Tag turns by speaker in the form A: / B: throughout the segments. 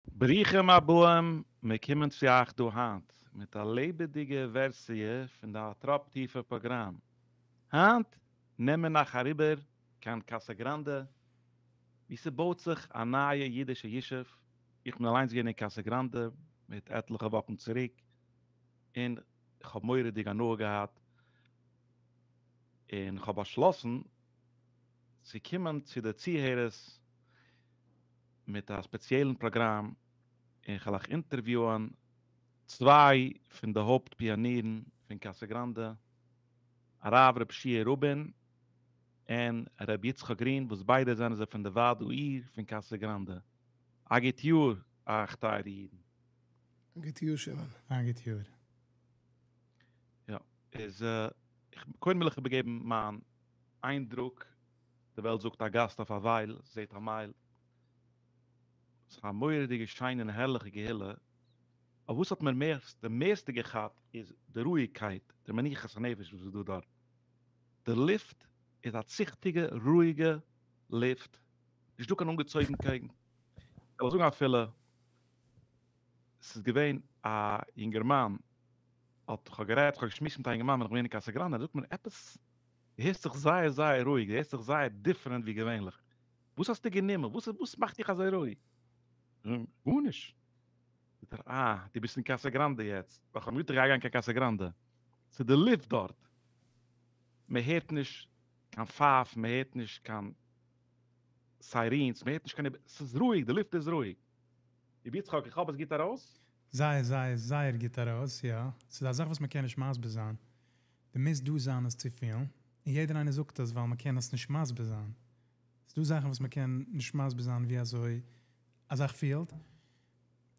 A: ברוכים הבאים, מיר קומען צו אייך דא היינט מיט א לעבעדיגע ווערסיע פון די הטראפ טיפער פראגראם. היינט נעם מיר נאך אריבער קיין קאסא גראנדע ווי ס'בויט זיך א נייע אידישע ישוב, איך בין אליינס געווען אין קאסא גראנדע מיט עטליכע וואכן צוריק און כ'האב מורא'דיג הנאה געהאט און כ'האב באשלאסן צו קומען צו די צוהערערס. מיט א ספעציעלן פראגראם און כ'העלאך אינטערוויוען צוויי פון די הויפט פיאנירן פון קאסא גראנדע, הרב ר' שיער רובין און ר' יצחק גרין וואס ביידע זענען זיי פון די ועד העיר פון קאסא גראנדע. א גוט יאר אייך טייערע אידן. א
B: גוט
A: יאר שמעון. א גוט יאר. יא, איז קודם וויל איך איבערגעבן מיין איינדרוק. די וועלט זאגט א גאסט אויף א ווייל, זעהט א מייל. ס'איז א מורא'דיגע שיינע און הערליכע קהילה, אבער וואס האט מיר מערסט די מערסטע געכאפט איז די רואיגקייט, די מנוחת הנפש וואס איז דא דארט. די לופט איז א ציכטיגע רואיגע לופט, נישט דא קיין אנגעצויגנקייט. כ'וועל זאגן אפילו ס'איז געווען א יונגערמאן, האט, כ'האב גערעדט, כ'האב געשמועסט מיט א יונגערמאן ווען איך בין געווען אין קאסא גראנדע, זאגט מיר עפעס, דו הערסט זיך זייער זייער רואיג, דו הערסט זיך זייער דיפרענט ווי געווענליך. וואס האסטו גענומען? וואס וואס מאכט דיך אזוי רואיג? נו, גארנישט. זאגט ער, אה, דו ביסט אין קאסא גראנדע יעצט? ווייל כ'האב מיר געטרייט גיין קיין קאסא גראנדע. ס'איז די לופט דארט. מען הערט נישט קיין פייפן, מען הערט נישט קיין סיירינס, מען הערט נישט קיין, ס'איז רואיג, די לופט איז רואיג. רבי יצחק, איך האף עס גוט ארויס? זייער זייער זייער
C: גוט ארויס, יא. ס'איז א זאך וואס מען קען נישט מסביר זיין. די מוזט דא זיין עס צו פילן, און יעדער איינער זאגט עס ווייל מען קען עס נישט מסביר זיין, ס'דא זאכן וואס מען קען נישט מסביר זיין ווי אזוי א זאך פילט,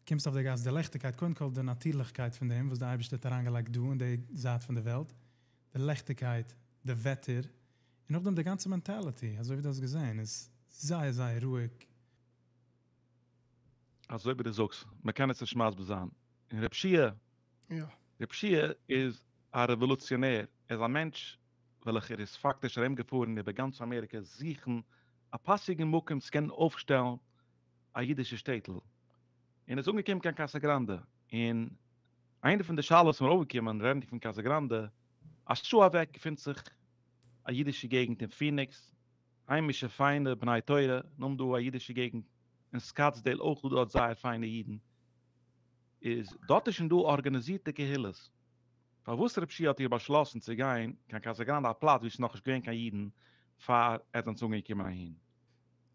C: קומסט אויף די גאס די לעכטיגקייט, קודם כל די נאטירליכקייט פון דעם וואס די אייבערשטער האט אריין געלייגט דא אין די זייט פון די וועלט, די לעכטיגקייט, די וועטער, און נאכדעם די גאנצע מענטעליטי, אזוי ווי דו האסט געזען, איז זייער זייער רואיג,
A: אזוי ווי דו זאגסט, מען קען עס נישט מסביר זיין. און רב שיע, רב שיע איז א רעוואלוציאנער, ער איז א מענטש וועלכער איז פאקטיש ארום געפארן איבער גאנץ אמעריקע זוכן א פאסיגן מקום צו קענען אויפשטעלן א אידישע שטעטל, און איז אנגעקומען קיין קאסא גראנדע, און איינע פון די שאלות ווען מ'איז ארויפגעקומען רעדן פון קאסא גראנדע, א שעה אוועק געפינט זיך א אידישע געגנט אין פיניקס, היימישע פיינע בני תורה, נאם דא א אידישע געגנט, אין סקאטסדעיל אויך איז דארט זייער פיינע אידן, איז דארט איז שוין דא ארגאניזירטע קהילות, פארוואס רב שי' האט איר באשלאסן צו גיין קיין קאסא גראנדע א פלאץ ווי עס איז נאכנישט געווען קיין אידן פאר עטס זענטס אנגעקומען אהין?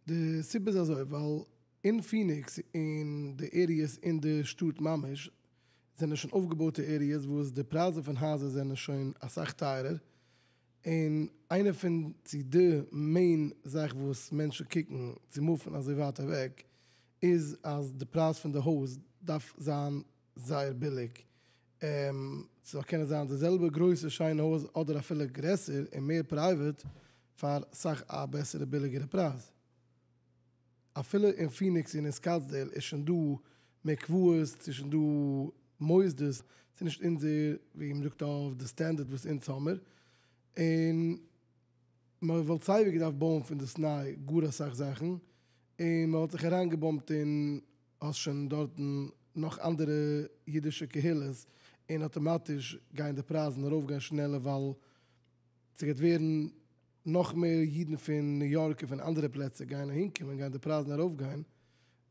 A: די
B: סיבה איז אזוי, ווייל אין פיניקס און די עריעס אין די שטאט ממש, זענען שוין אויפגעבויטע עריעס וואס די פרייזן פון הייזער זענען שוין אסאך טייערער, און איינע פון צו די מעין זאך וואס מענטשן קוקן צו מופן אזוי ווייט אוועק איז אז די פרייז פון די הויז דארף זיין זייער ביליג, ס'זאל קענען זיין די זעלבע גרויסע שיינע הויז אדער אפילו גרעסער און מער פרייוועט פאר סאך א בעסערע ביליגערע פרייז. אפילו אין פיניקס און אין סקאטסדעיל איז שוין דא מקוואות, ס'איז שוין דא מוסדות, ס'איז נישט אונזער ווי מען זאגט אויף די סטענדערט וואס אונז האמער, און מען וואלט סייווי געדארפט בויען פונדאסניי גאר אסאך זאכן, און מען וואלט זיך אריינגעבאמט אין האסט שוין דארטן נאך אנדערע אידישע קהילות, און אטאמאטיש גייען די פרייזן ארויפגיין שנעלער ווייל ס'גייט ווערן נאך מער אידן פון ניו יארק און פון אנדערע פלעצער גייען אהינקומען גייען די פרייזן ארויפגיין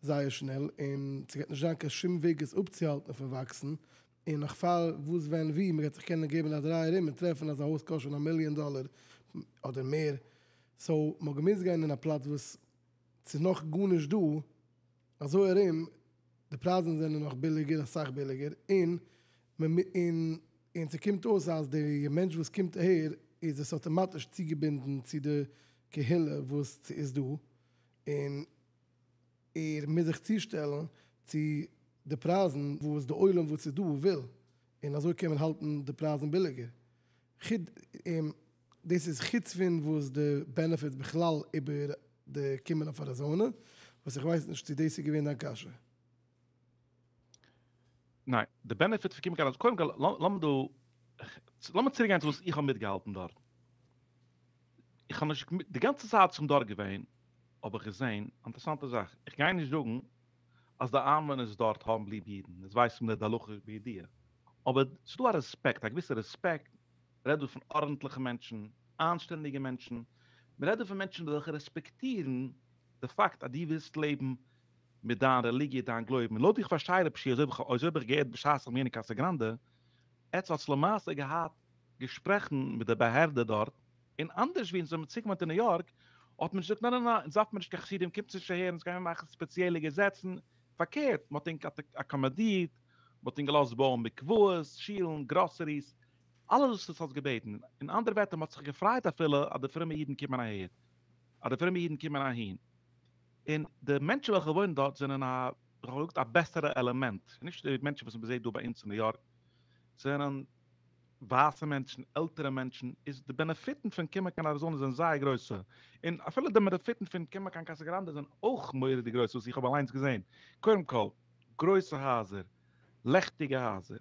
B: זייער שנעל און ס'גייט נישט זיין קיין שום וועג עס אפצוהאלטן פון וואקסן און נאך פאר וואס ווען וואו מ'גייט זיך קענען געבן א דריי ארום און טרעפן אז א הויז קאסט שוין א מיליאן דאלער אדער מער סאו מ'האט געמוזט גיין אין א פלאץ וואס ס'איז נאך גארנישט דא. אזוי ארום די פרייזן זענען נאך ביליגער אסאך ביליגער און און ס'קומט אויס אז די מענטש וואס קומט אהער איז עס אטאמאטיש צוגעבינדן צו די קהילה וואס ס'איז דא און ער מוז זיך צושטעלן צו די פרייזן וואס די עולם וואס איז דא וויל און אזוי קען מען האלטן די פרייזן ביליגער. דאס איז חוץ פון וואס די בענעפיטס בכלל איבער די קומען אויף אריזאנע, וואס איך ווייס נישט צו דאס איז געווען דיין קשיא.
A: ניין, די בענעפיטס פון קומען קיין אריזאנע, קודם כל לאמיר דא, לאמיר צוריק גיין צו וואס איך האב מיטגעהאלטן דארטן. איך האב נישט, די גאנצע צייט וואס איך בין דארט געווען האב איך געזען א אינטערעסאנטע זאך, איך גיי נישט זאגן אז די איינוואוינערס דארט האבן ליב אידן, עס ווייסט מען נישט די הלכה בידיעה, אבער ס'איז דא א רעספעקט, א געוויסע רעספעקט, מ'רעדט דא פון ארנטליכע מענטשן, אנשטענדיגע מענטשן, מ'רעדט דא פון מענטשן וועלכע רעספעקטירן די פאקט אז דו ווילסט לעבן מיט דיין רעליגיע, דיין גלויבן, און לויט ווי איך פארשטיי רב ש, אזוי ווי איך האב געהערט בשעת'ן גיין אין קאסא גראנדע, עטץ האטס למעשה געהאט געשפרעכן מיט די באהערדע דארט, און אנדערש ווי אונז ווען מ'צו קומען צו ניו יארק, האט מען געזאגט נא נא נא, אונז דארפן מיר נישט קיין חסידים, קומטס נישט אהער, אונז גיימיר מאכן ספעציעלע געזעצן, פארקערט, מ'האט ענק אקאמאדירט, מ'האט ענק געלאזט בויען מקוואות, שילן, גראסעריס, אלעס וואס דו האסט געבעטן, אין אנדערע ווערטער מען האט זיך געפרייט אפילו אז די פרומע אידן קומען אהער, אז די פרומע אידן קומען אהין, און די מענטשן וועלכע וואוינען דארט זענען א, ווי איך האב געזאגט, א בעסערע עלעמענט, נישט די מענטשן וואס מען זעט דא ביי אונז אין ניו יארק, זענען ווייסע מענטשן, עלטערע מענטשן, איז די בענעפיטן פון קומען קיין אריזאנע זענען זייער גרויסע, און אפילו די בענעפיטן פון קומען קיין קאסא גראנדע זענען אויך מורא'דיג גרויס וואס איך האב אליינס געזען, קודם כל, גרויסע הייזער, לעכטיגע הייזער.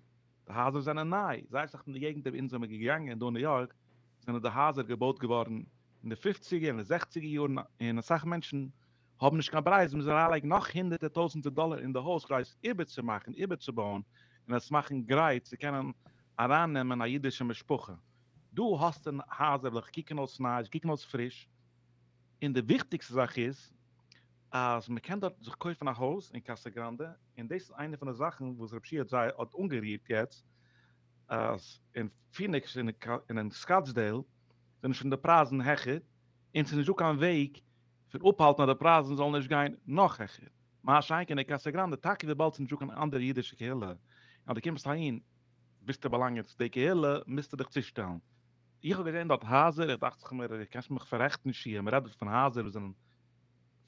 A: די הייזער זענען ניי, זייער אסאך פון די געגנטער ווי אונז זעמיר געגאנגען דא אין ניו יארק, זענען די הייזער געבויט געווארן אין די פופציגער און די זעכציגער יארן, און אסאך מענטשן האבן נישט קיין ברירה, זיי מוזן אריינלייגן נאך הונדערטער טויזנטער דאלער אין די הויז כדי עס איבערצומאכן, איבערצובויען, און עס מאכן גרייט צו קענען ארייננעמען א אידישע משפחה. דא האסטו הייזער וועלכע קוקן אויס ניי, זיי קוקן אויס פריש, און די וויכטיגסטע זאך איז אז מען קען דארט זיך קויפן א הויז אין קאסא גראנדע, און דאס איז איינע פון די זאכן וואס רב שיח זי ע האט אנגערירט יעצט, אז אין פיניקס און אין סקאטסדעיל זענען שוין די פרייזן העכער, און ס'איז נישטא קיין וועג פון אפהאלטן אז די פרייזן זאלן נישט גיין נאך העכער, מה שאין כן אין קאסא גראנדע, טאקע וויבאלד ס'איז נישטא קיין אנדערע אידישע קהילה, און אז דו קומסט אהין ביסטו באלאנגען צו די קהילה, מוזטו דיך צושטעלן. איך האב געזען דארט הייזער, איך דאכט זיך מיר, דו קענסט מיך פאררעכטן שיח, מ'רעדט דארט פון הייזער וואס זענען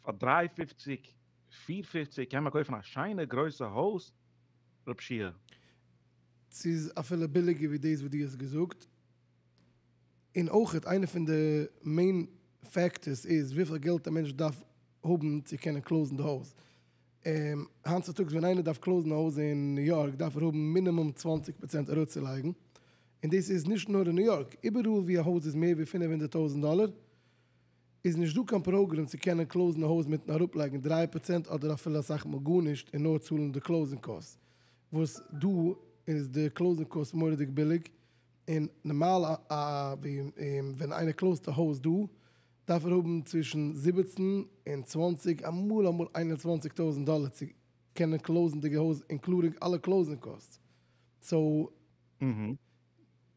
A: פאר דריי פופציג פֿיר פֿופֿציק קען מען קויפן א שיינע גרויסע הויז רב
B: שיהיה. ס'איז אפילו ביליגער ווי דאס וואס דו האסט געזאגט, און אויכעט איינע פון די מעין פעקטערס איז וויפיל געלט א מענטש דארף האבן צו קענען קלאוזן די הויז, היינט צוטאגס ווען איינער דארף קלאוזן א הויז אין ניו יארק דארף ער האבן מינימום צוואַנציק פראצענט אראפצולייגן, און דאס איז נישט נאר אין ניו יארק, איבעראל ווי א הויז איז מער ווי פֿינף הונדערט טויזנט דאלער איז נישט דא קיין פראגרעם צו קענען קלאוזן א הויז מיטן אראפלייגן דרײַ פראצענט אדער אפילו אסאך מאל גארנישט און נאר צאלן די קלאוזינג קאסט וואס דא איז די קלאוזינג קאסט מוראדיג ביליג און נארמאל א ווען איינער קלאוזט א הויז דא דארף ער האבן צווישן זיבעצן און צוואַנציק אמאל אמאל איין און צוואַנציק טויזנט דאלער צו קענען קלאוזן די הויז אינקלודינג אלע קלאוזינג קאסט סאו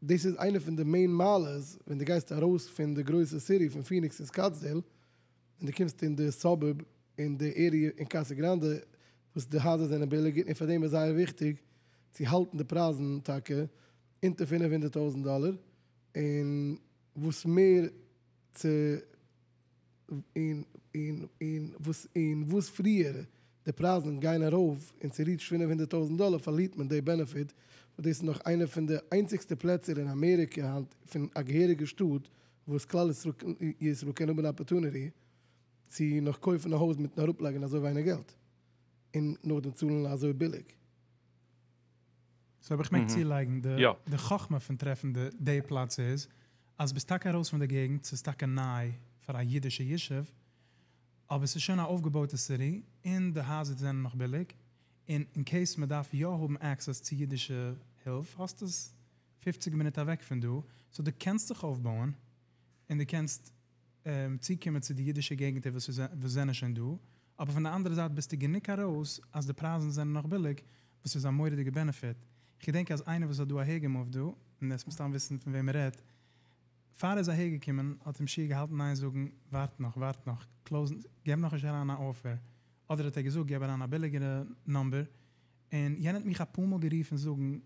B: דאס איז איינע פון די מעין מעלות ווען די גייסט ארויס פון די גרויסע סיטי פון פיניקס און סקאטסדעיל און די קומסט אין די סאבורב און די עריע אין קאסא גראנדע וואס די הייזער זענען ביליגער און פאר דעם איז זייער וויכטיג צו האלטן די פרייזן טאקע אונטער פֿינף הונדערט טויזענט דאלער און וואס מער צו און און און וואס און וואס פריער די פרייזן גייען ארויף און ס'ריעטשט פֿינף הונדערט טויזנט דאלער פארלירט מען די בענעפיט וואס דאס איז נאך איינע פון די איינציגסטע פלעצער אין אמעריקע היינט פון א געהעריגע שטאט וואס כלל ישראל קען האבן אפערטוניטי צו נאך קויפן א הויז מיטן אראפלייגן אזוי ווייניג געלט און נאכדעם צאלן אזוי ביליג.
C: סאו אויב איך מעג צולייגן, די חכמה פון טרעפן די פלאץ איז אז ביסט טאקע ארויס פון די געגנט, ס'איז טאקע ניי פאר א אידישע ישוב, אבער ס'איז שוין א אויפגעבויטע סיטי, און די הייזער זענען נאך ביליג, און אין קעיס מ'דארף יא האבן עקסעס צו אידישע הילף, האסטו עס פופציג מינוט אוועק פון דא, סאו דו קענסט זיך אויפבויען, און דו קענסט. צוקומען צו די אידישע געגנטער וואס זענען שוין דא, אבער פון די אנדערע זייט ביסטו גענוג ארויס אז די פרייזן זענען נאך ביליג, וואס איז א מורא'דיגע בענעפיט. איך געדענק אז איינער וואס האט דא אהער געמופט דא, און עס מסתם וויסן פון וועם מען רעדט, פאר ער איז אהער געקומען האט אים שיעור געהאלטן ניין זאגן, ווארט נאך, ווארט נאך, קלאוזן, געב נאך נישט אריין א אפער, אדער האט ער געזאגט געב אריין א ביליגערע נאמבער, און יענער האט מיך אפאר מאל גערופן זאגן,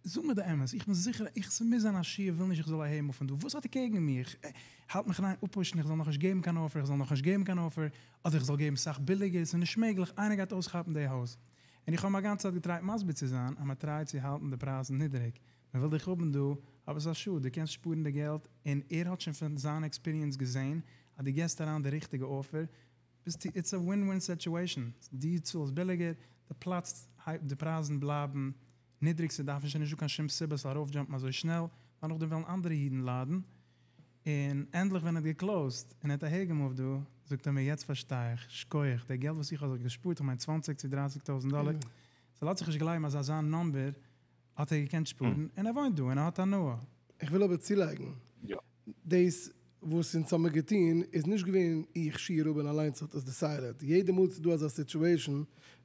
C: זאג מיר די אמת, איך בין זיכער איך ס'מוז זיין אז שיעור וויל נישט איך זאל אהער מופן דא, וואס האט ער קעגן מיר? איך האלט מיך ניין אפוואשן איך זאל נאכנישט געבן קיין אפער איך זאל נאכנישט געבן קיין אפער אדער איך זאל געבן סאך ביליגער ס'איז נישט מעגליך איינער גייט אויסכאפן די הויז און איך האב אים אגאנצע צייט געטרייט מסביר צו זיין אז מ'טרייט צו האלטן די פרייזן נידריג מ'וויל דיך האבן דא אבער ס'איז א שאד דו קענסט שפארן די געלט און ער האט שוין פון זיין עקספיריענס געזען אז דו געסט אריין די ריכטיגע אפער ביסטו איטס א ווין ווין סעטועישאן, דו צאלסט ביליגער, די פלאץ הייבט, די פרייזן בלייבן נידריג, ס'דארף נישט און נישטא קיין שום סיבה צו ארויפדזשאמפן אזוי שנעל, ווייל נאכדעם וועלן אנדערע אידן ליידן, און ענדליך ווען ער האט געקלאוזט און ער האט אהערגעמופט דא, זאגט ער מיר יעצט פארשטיי איך, שקויעך, די געלט וואס איך האב זיך געשפארט, איך מיין צוואנציג צו דרייסיג טויזנט דאלער, ס'לאזט זיך נישט גלייבן אז אזא נומבער האט ער געקענט שפארן, און ער וואוינט דא און ער האט הנאה. איך וויל אבער צולייגן,
B: יא.
A: דאס וואס
B: אונז האמיר געטון איז נישט געווען איך שי רבין אליינס האט עס דעסיידעד, יעדע מאל ס'איז דא אזא סיטועשאן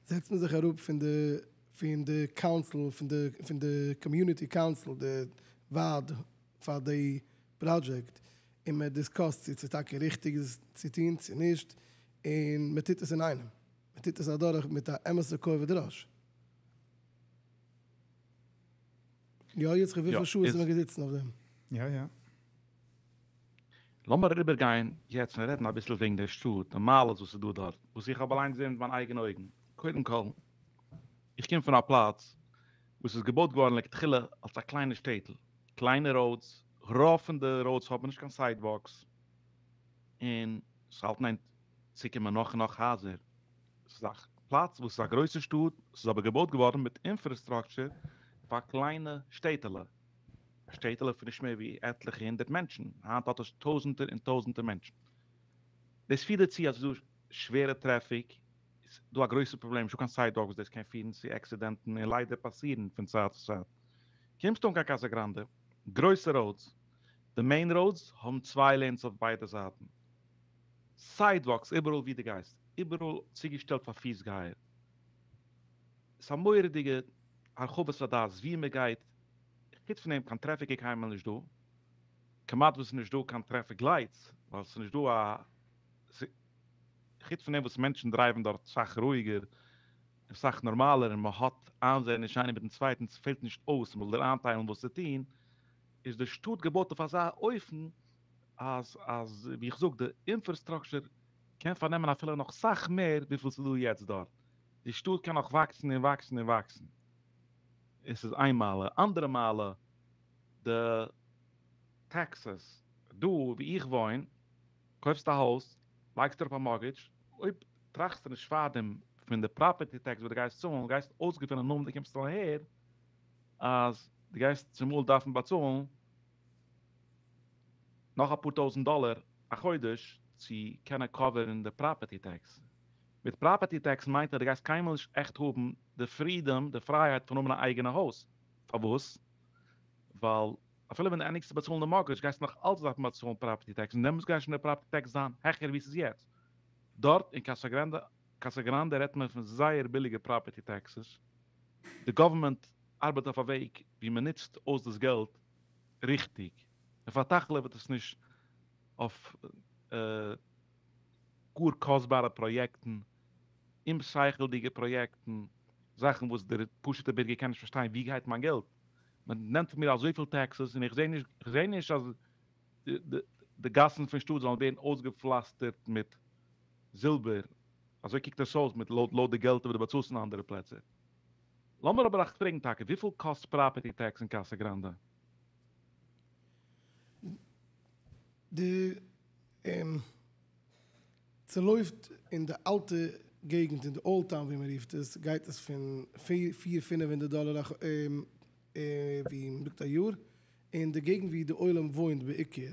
B: זעצט מען זיך אראפ פון די פון די קאונסיל פון די פון די קאמיוניטי קאונסיל די ועד פאר די פראדזשעקט און מען דיסקאסט צו ס'איז טאקע ריכטיג עס צו טון צו נישט און מען טוט עס אינאיינעם, מען טוט עס אדורך מיט א אמת'ע כובד ראש. יא יצחק וויפיל שעה איז מען געזיצן אויף
A: דעם? יא יא. לאמיר אריבער גיין יעצט און רעדן אביסל וועגן דער שטאט, די מעלות וואס איז דא דארט, וואס איך האב אליינס געזען מיט מיין אייגענע אויגן. קודם כל, איך קום פון א פלאץ וואס איז געבויט געווארן לכתחילה אלס א קליינע שטעטל, קליינע ראודס, רוב פון די ראודס האבן נישט קיין סיידוואלקס, און עס האלטן איין צוקומען נאך און נאך הייזער. ס'איז א פלאץ וואס איז א גרויסע שטאט, ס'איז אבער געבויט געווארן מיט אינפראסטרוקטור פאר קליינע שטעטעלע, א שטעטעלע פון נישט מער ווי עטליכע הונדערט מענטשן, היינט האט עס טויזנטער און טויזנטער מענטשן. דאס פירט דערצו אז עס איז דא שווערע טרעפיק, עס איז דא א גרויסע פראבלעם, נישטא קיין סיידוואלק וואס דאס קען פירן צו עקסידענטן און ליידער פאסירן פון צייט צו צייט. קומסטו אן קיין קאסא גראנדע, גרויסע ראודס, די מעין ראודס האבן צוויי לעינס אויף ביידע זייטן, סיידוואקס איבעראל ווי די גייסט, איבעראל צוגעשטעלט פאר פיס גייער, עס א מורא'דיגע הרחבת הדעת ווי מען גייט, חוץ פון דעם קיין טרעפיק איז קיינמאל נישט דא, כמעט וואס נישט דא קיין טרעפיק לייטס, ווייל עס איז נישט דא א, חוץ פון דעם וואס מענטשן דרייוון דארט סאך רואיגער און סאך נארמאלער און מען האט איינזעעניש איינער מיטן צווייטן ס'פעלט נישט אויס מען זאל דיר איינטיילן וואס צו טון, איז די שטאט געבויט אויף אזא אופן. אז אז ווי איך זאג די אינפערסטראקשער קען פארנעמען אפילו נאך סאך מער וויפיל ס'איז דא יעצט דארט, די שטאט קען נאך וואקסן און וואקסן און וואקסן, עס איז איין מעלה, אנדערע מעלה די טעקסעס, דא ווי איך וואוין קויפסטו א הויז לייגסט אראפ א מארטגעדזש, אויב טראכסטו נישט פארדעם פון די פראפערטי טעקס וואס די גייסט צאלן, גייסט אויסגעפינען נאר ווען די קומסט אהער אז די גייסט צומאל דארפן באצאלן, נאך אפאר טויזענט דאלער א חודש צו קענען קאווערן די פראפערטי טעקס. מיט פראפערטי טעקס מיינט אז די גייסט קיינמאל נישט עכט האבן די פרידאם, די פרייהייט פון האבן א אייגענע הויז. פארוואס? ווייל אפילו ווען די ענדיגסט צו באצאלן די מארטגעדזש גייסטו נאך אלץ דארפן באצאלן פראפערטי טעקס און דעמאלטס גייט שוין די פראפערטי טעקס זיין העכער ווי ס'איז יעצט דארט אין קאסא גרענדע. קאסא גראנדע רעדט מען פון זייער ביליגע פראפערטי טעקסעס, די גאווערמענט ארבעט אויף א וועג ווי מען נוצט אויס דאס געלט ריכטיג, מען פארטאכלעוועט עס נישט אויף גאר קאסטבארע פראיעקטן, אומשכל'דיגע פראיעקטן, זאכן וואס דער פשוט'ער בירגער קען נישט פארשטיין ווי גייט מיין געלט? מען נעמט פון מיר אזויפיל טעקסעס און איך זע נישט איך זע נישט אז די גאסן פון שטאט זאלן ווערן אויסגעפלאסטערט מיט זילבער, אזוי קוקט עס אויס מיט לויט די געלטער וואס דו באצאלסט אין אנדערע פלעצער. לאמיר אבער עכט פרעגן טאקע, וויפיל קאסט פראפערטי טעקס אין קאסא גראנדע? די און
B: צולויפט אין די אלטע געגנט אין די אולד טאון ווי מען רופט עס גייט עס פון פיר פינעף הונדערט דאלער א ווי מען זאגט א יאר אין די געגנט ווי די עולם וואוינט בעיקר.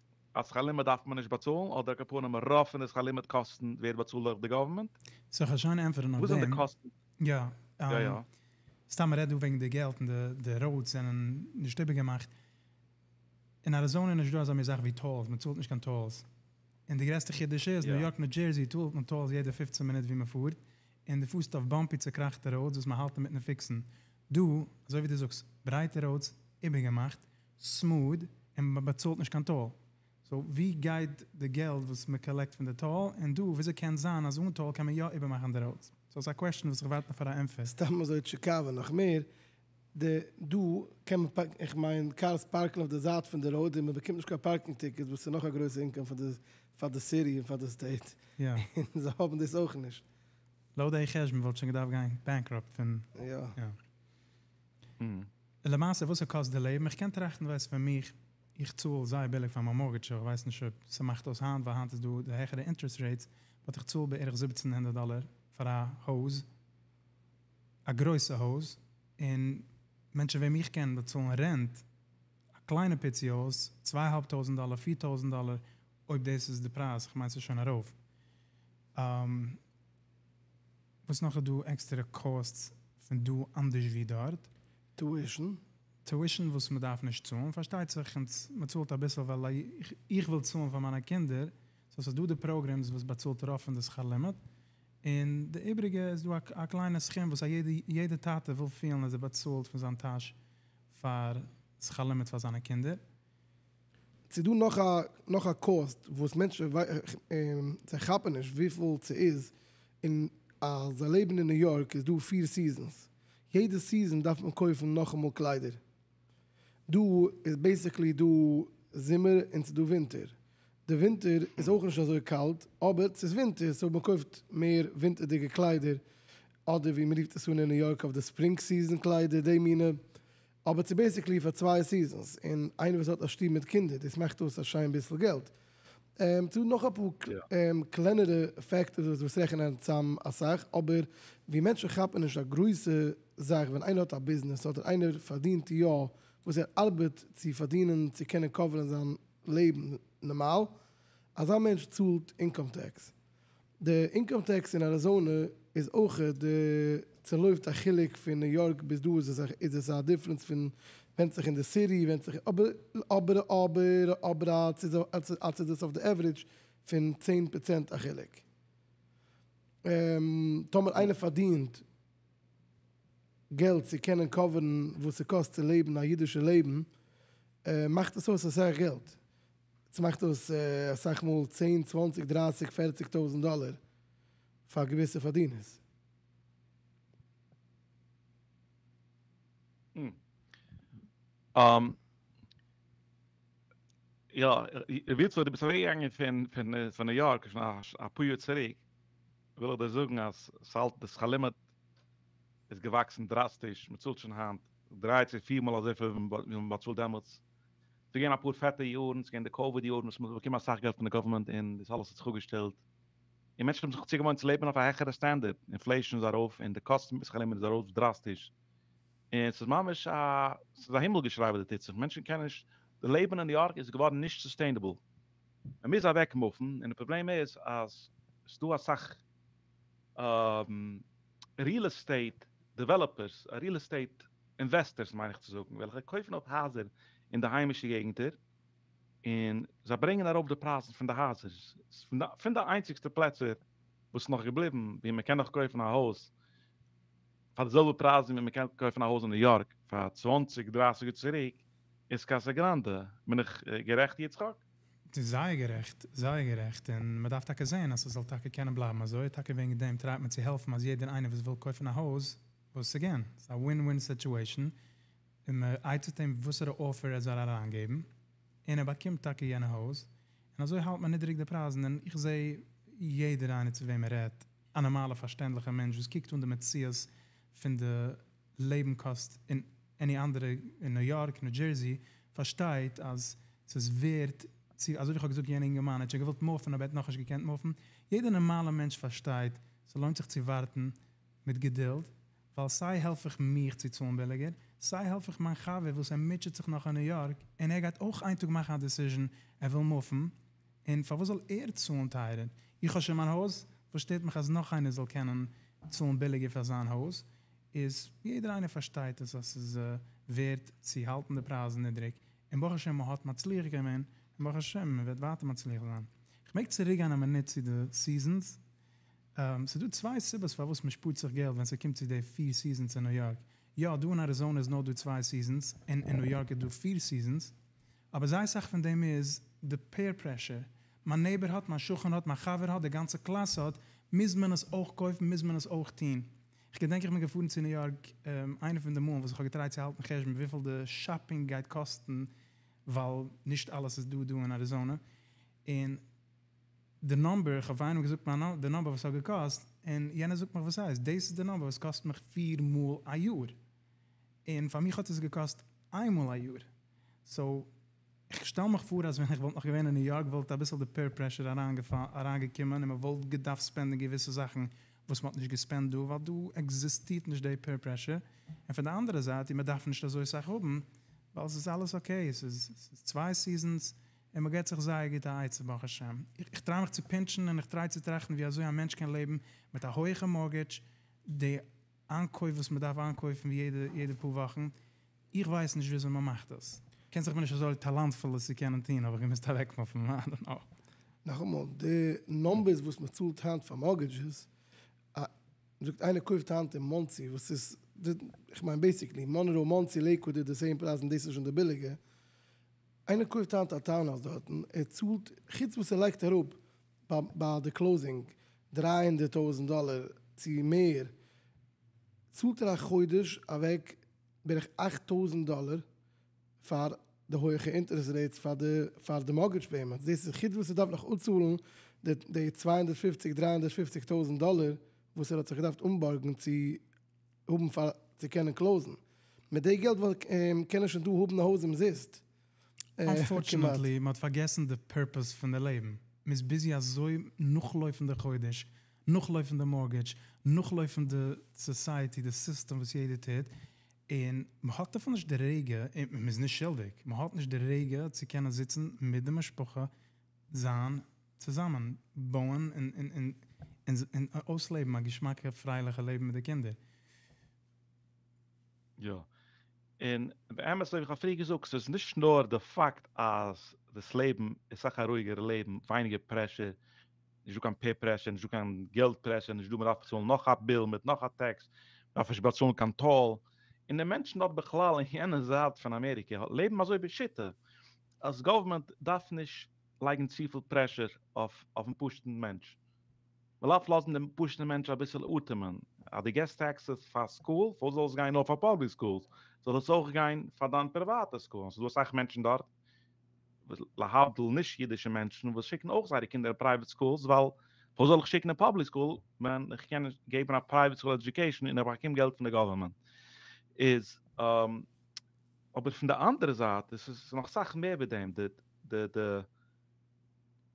A: אז שכר לימוד דארף מען נישט באצאלן אדער אקאפארנעם רוב פון די שכר לימוד קאסטן ווערט באצאלט דורך די גאווערמענט? זאל איך שוין
C: ענטפערן אויף דעם?
A: יא. סתם מ'רעדט דא
C: וועגן די געלט און די ראודס זענען נישט איבערגעמאכט. אין אריזאנע איז נישט דא אזא מין זאך ווי טאלס, מ'צאלט נישט קיין טאלס. און די גרעסטע חידוש איז, ניו יארק ניו דזשערזי צאלט מען טאלס יעדע פופצן מינוט ווי מ'פארט, און דו פארסט אויף באמפי צוקראכטע ראודס וואס מ'האלט אינמיטן פיקסן. דא, אזוי ווי דו זאגסט, ברייטע ראודס, איבערגעמאכט, סמוד און מען באצאלט נישט קיין טאל, סאו ווי גייט די געלט וואס מען קאלעקט פון די טאל, און דא וויאזוי קען זיין אז אן טאל קען מען יא איבערמאכן די ראודס, סאו ס'איז א קוועשן וואס איך ווארט נאך פאר א ענטפער. סתם אזוי צו קאווען
B: נאך מער, די דא קען מען פארקן, איך מיין קארס פארקן אויף די זייט פון די ראוד און מען באקומט נישט קיין פארקינג טיקעטס וואס איז נאך א גרויסע אינקאם פאר די פאר די סיטי און פאר די סטעיט, יא. און זיי
C: האבן דאס
B: אויך נישט. לויט די
C: חשבון וואלט שוין געדארפט גיין בענקראפט פון. יא. און למעשה וואס ער קאסט די לעבן, איך קען טראכטן ווייסט פאר מיך, איך צאל זייער ביליג פאר מיין מארגעטש, איך ווייס נישט אויב ס'מאכט אויס היינט, ווייל היינט איז דא די העכערע אינטערעסט רעיטס, באט איך צאל בערך זיבעצן הונדערט דאלער פאר א הויז, א גרויסע הויז, און מענטשן וועם איך קען באצאלן רענט, א קליינע פיצי הויז, צוויי אהאלב טויזנט דאלער, פיר טויזנט דאלער, אויב דאס איז די פרייז, כ'מיין ס'איז שוין ארויף. וואס נאך איז דא עקסטערע קאסטס פון דא אנדערש ווי דארט? טואישן.
B: טואישן וואס
C: מ'דארף נישט צאלן, פארשטייט זיך אונז מ'צאלט אביסל ווייל איך וויל צאלן פאר מיינע קינדער, סאו ס'איז דא די פראגרעמס וואס באצאלט רוב פון די שכר לימוד, און די איבריגע איז דא א קליינע סכום וואס א יעדע טאטע וויל פילן אז ער באצאלט פון זיין טאש פאר שכר לימוד פאר זיינע קינדער,
B: ס'איז דא נאך א נאך א קאוסט וואס מענטשן זיי כאפן נישט וויפיל ס'איז און אז זיי לעבן אין ניו יארק איז דא פיר סיזענס יעדע סיזען דארף מען קויפן נאכאמאל קליידער דא איז בעסיקלי דא זומער און ס'דא ווינטער די ווינטער איז אויך נישט אזוי קאלט אבער ס'איז ווינטער סאו מ'קויפט מער ווינטערדיגע קליידער אדער ווי מ'רופט עס אן אין ניו יארק אויף די ספרינג סיזען קליידער די מינע אבער צו בעסיקלי פאר צוויי סיזענס און איינער וואס האט א שטוב מיט קינדער דאס מאכט אויס א שיין ביסל געלט. צו נאך אפאר קלענערע פעקטארס וואס רעכענען צאם אסאך אבער ווי מענטשן כאפן נישט א גרויסע זאך ווען איינער האט א ביזנעס אדער איינער פארדינט יא וואס ער ארבעט צו פארדינען צו קענען קאווערן זיין לעבן נארמאל אזא מענטש צאלט אינקאם טעקס. די אינקאם טעקס אין אריזאנע איז אויך די צעלויפט א חילוק פון ניו יארק ביז דא איז עס איז עס א דיפרענס פון ווענדט זיך אין די סיטי ווענדט זיך אבער אבער אבער אבער אלץ איז אלץ איז עס אויף די עוורידזש פון צען פראצענט א חילוק טאמער איינער פארדינט געלט צו קענען קאווערן וואס ס'קאסט צו לעבן א אידישע לעבן מאכט עס אויס אסאך געלט. עטס מאכט אויס אסאך מאל צען צוואנציג
A: דרייסיג פערציג טויזענט דאלער פאר געוויסע פארדינערס. און יא ר' איצא דו ביסט אוועק געגאנגען פון פון ניו יארק שוין אפאר יאר צוריק וויל איך דיר זאגן אז ס'האלט די שכר לימוד איז געוואקסן דראסטיש מ'צאלט שוין היינט דריי צו פיר מאל אזויפיל ווי מ'האט באצאלט דעמאלטס ס'איז געווען אפאר פעטע יארן, ס'איז געווען די קאוויד יארן וואס מ'האט באקומען אסאך געלט פון די גאווערמענט און דאס אלעס האט זיך אפגעשטעלט, און מענטשן האבן זיך צוגעוואוינט צו לעבן אויף א העכערע סטענדערד, אינפלעישאן איז ארויף און די קאסט פון ביסלעך לעבן איז ארויף דראסטיש, און ס'איז ממש א, ס'איז א הימל געשריי וואס דא טוט זיך, מענטשן קענען נישט, די לעבן אין ניו יארק איז געווארן נישט סוסטעינעבל, מ'מוז אוועק מופן, און די פראבלעם איז אז ס'איז דא אסאך. ריעל עסטעיט דעוועלאפערס, ריעל עסטעיט אינוועסטערס מיין איך צו זאגן, וועלכע קויפן אויף הייזער אין די היימישע געגנטער, און זיי ברענגען ארויף די פרייזן פון די הייזער, פון די איינציגסטע פלעצער וואס איז נאך געבליבן ווי מען קען נאך קויפן א הויז פאר די זעלבע פרייזן ווי מען קען קויפן א הויז אין ניו יארק פאר צוואַנציק דרײַסיק יאר צוריק איז קאסא גראנדע, בין איך גערעכט יצחק? ס'איז זייער גערעכט,
C: זייער גערעכט, און מען דארף טאקע זען אז ס'זאל טאקע קענען בלייבן אזוי, טאקע וועגן דעם טרייט מען צו העלפן אז יעדער איינער וואס וויל קויפן א הויז, וואס איז אגעין, ס'איז א ווין ווין סיטועשאן, און מען עצה'ט אים וואסערע אפער ער זאל אריינגעבן, און ער באקומט טאקע יענע הויז, און אזוי האלט מען נידעריג די פרייזן, און איך זעה יעדער איינער צו וועם מען רעדט, א נארמאלע פארשטענדליכע מענטש וואס קוקט אן די מציאות פון די. לעבן קאסט אין עני אנדערע אין ניו יארק ניו דזשערסי פארשטייט אז ס'איז ווערט צו אזוי ווי כ'האב געזאגט יענע אינגערמאן ער האט שוין געוואלט מופן אבער ער האט נאכנישט געקענט מופן יעדע נארמאלע מענטש פארשטייט ס'לוינט זיך צו ווארטן מיט געדולד ווייל סיי העלף איך מיך צו צאלן ביליגער סיי העלף איך מיין חבר וואס ער מוטשעט זיך נאך אין ניו יארק און ער גייט אויך איין טאג מאכן א דעסיזשען ער וויל מופן און פארוואס זאל ער צאלן טייערער איך האב שוין מיין הויז וואס שטערט מיך אז נאך איינער זאל קענען צאלן ביליגער פאר זיין הויז. איז יעדער איינער פארשטייט עס אז ס'איז ווערט צו האלטן די פרייזן נידריג, און ברוך השם מ'האט מצליח געווען, און ברוך השם מ'וועט ווייטער מצליח זיין. כ'מעג צוריק גיין א מינוט צו די סיזענס? ס'איז דא צוויי סיבות פארוואס מ'שפארט זיך געלט ווען ס'קומט צו די פיר סיזענס אין ניו יארק, יא דא אין אריזאנע איז נאר דא צוויי סיזענס, און אין ניו יארק איז דא פיר סיזענס, אבער זייער סאך פון דעם איז די פעיר פרעשור, מיין נעיבער האט, מיין שכן האט, מיין חבר האט, די גאנצע קלאס האט, מוז מען עס אויך קויפן, מוז מען עס אויך טון, כ'געדענק איך בין געפארן צו ניו יארק איינע פון די מאלן וואס כ'האב געטרייט צו האלטן חשבון וויפיל די שאפינג גייט קאסטן ווייל נישט אלעס איז דא דא אין אריזאנע און די נאמבער, איך האב פאר איינעם געזאגט מיין די נאמבער וואס ס'האט געקאסט און יענער זאגט מיך וואס הייסט דאס איז די נאמבער וואס קאסט מיך פיר מאל א יאר און פאר מיך האט עס געקאסט איין מאל א יאר סאו. איך שטעל מיך פאר אז ווען איך וואלט נאך געווען אין ניו יארק וואלט אביסל די פעיר פרעשור אריינגעקומען און מען וואלט געדארפט ספענדן געוויסע זאכן וואס מען האט נישט געספענדט דא ווייל דא עקזיסטירט נישט די פעיר פרעשור און פון די אנדערע זייט און מען דארף נישט אזוי סאך האבן ווייל עס איז אלעס אקעי עס איז צוויי סיזענס און מען געט זיך זייער גוט א עצה ברוך השם איך טריי מיך צו פינטשן און איך טריי צו טראכטן ווי אזוי א מענטש קען לעבן מיט א הויעכע מארגעדזש די איינקויף וואס מען דארף איינקויפן יעדע יעדע פאר וואכן, איך ווייס נישט וויאזוי מען מאכט דאס, כ'קען זיך מיר נישט אזוי טאלאנטפול עס צו קענען טון, האב איך געמוזט אוועקמופן, איי דאנט נאו. נאכאמאל,
B: די נומבערס וואס מען צאלט היינט פאר מארגעדזשעס, א, זאגט איינער קויפט היינט אין מאנסי וואס איז, איך מיין בעסיקלי, מאנרא, מאנסי, לעיקוואד איז די סעים פרייז און דאס איז שוין די ביליגע, איינער קויפט היינט א טאונהאוז דארטן, ער צאלט, חוץ וואס ער לייגט אראפ ביי די קלאוזינג דרײַ הונדערט טויזנט דאלער צו מער צאלט ער א חודש אוועק בערך אַכט טויזנט דאלער פאר די הויעכע אינטערעסט רעיטס פאר די פאר די מארגעדזש פעימענטס דאס איז חוץ וואס ער דארף נאך אפצאלן די צוויי הונדערט פֿופֿציק דרײַ הונדערט פֿופֿציק טויזנט דאלער וואס ער האט זיך געדארפט אנבארגן צו האבן פאר צו קענען קלאוזן. מיט די געלט וואלט קען ער שוין דא האבן א הויז אומזיסט. אנפארטשענעטלי
C: מ'האט פארגעסן די פערפעס פון די לעבן, מ'איז ביזי אזוי נאכלויפן די חודש, נאכלויפן די מארגעדזש, נאכלויפן די סאסייעטי, די סיסטעם וואס יעדער טוט, און מ'האט דערפאר נישט די רגע, און מ'איז נישט שולדיג, מ'האט נישט די רגע צו קענען זיצן מיט די משפחה, זיין. צוזאמען בויען און
A: אויסלעבן א געשמאקע פרייליכע לעבן מיט די קינדער. יא, און באמת ווי איך האב פריער געזאגט, ס'איז נישט נאר די פאקט אז דאס לעבן איז סאך א רואיגערע לעבן, ווייניגער פרעשור, נישט דא קיין פעיר פרעשור, נישט דא קיין געלט פרעשור, נישט דא מען דארף באצאלן נאך א ביל מיט נאך א טעקס, מען דארף נישט באצאלן קיין טאל, און די מענטשן דארט בכלל אין יענע זייט פון אמעריקע לעבן אזוי בשיטה, אז גאווערמענט דארף נישט לייגן צופיל פרעשור אויף אויפן פשוט'ן מענטש, מ'זאל אפ לאזן דעם פשוט'ן מענטש אביסל אטעמען, אז דו געסט טעקסעס פאר סקול, פארוואס זאל עס גיין נאר פאר פאבליק סקולס, זאל עס אויך גיין פאר דיין פריוואטע סקול, און ס'איז דא אסאך מענטשן דארט, להבדיל נישט אידישע מענטשן, וואס שיקן אויך זייערע קינדער אין פרייוועט סקולס, ווייל פארוואס זאל איך שיקן אין פאבליק סקול ווען איך קען געבן א פרייוועט סקול עדיוקעישן און איך באקום געלט פון די גאווערמענט, איז. אבער פון די אנדערע זייט איז עס נאך סאך מער ווי דעם, די די די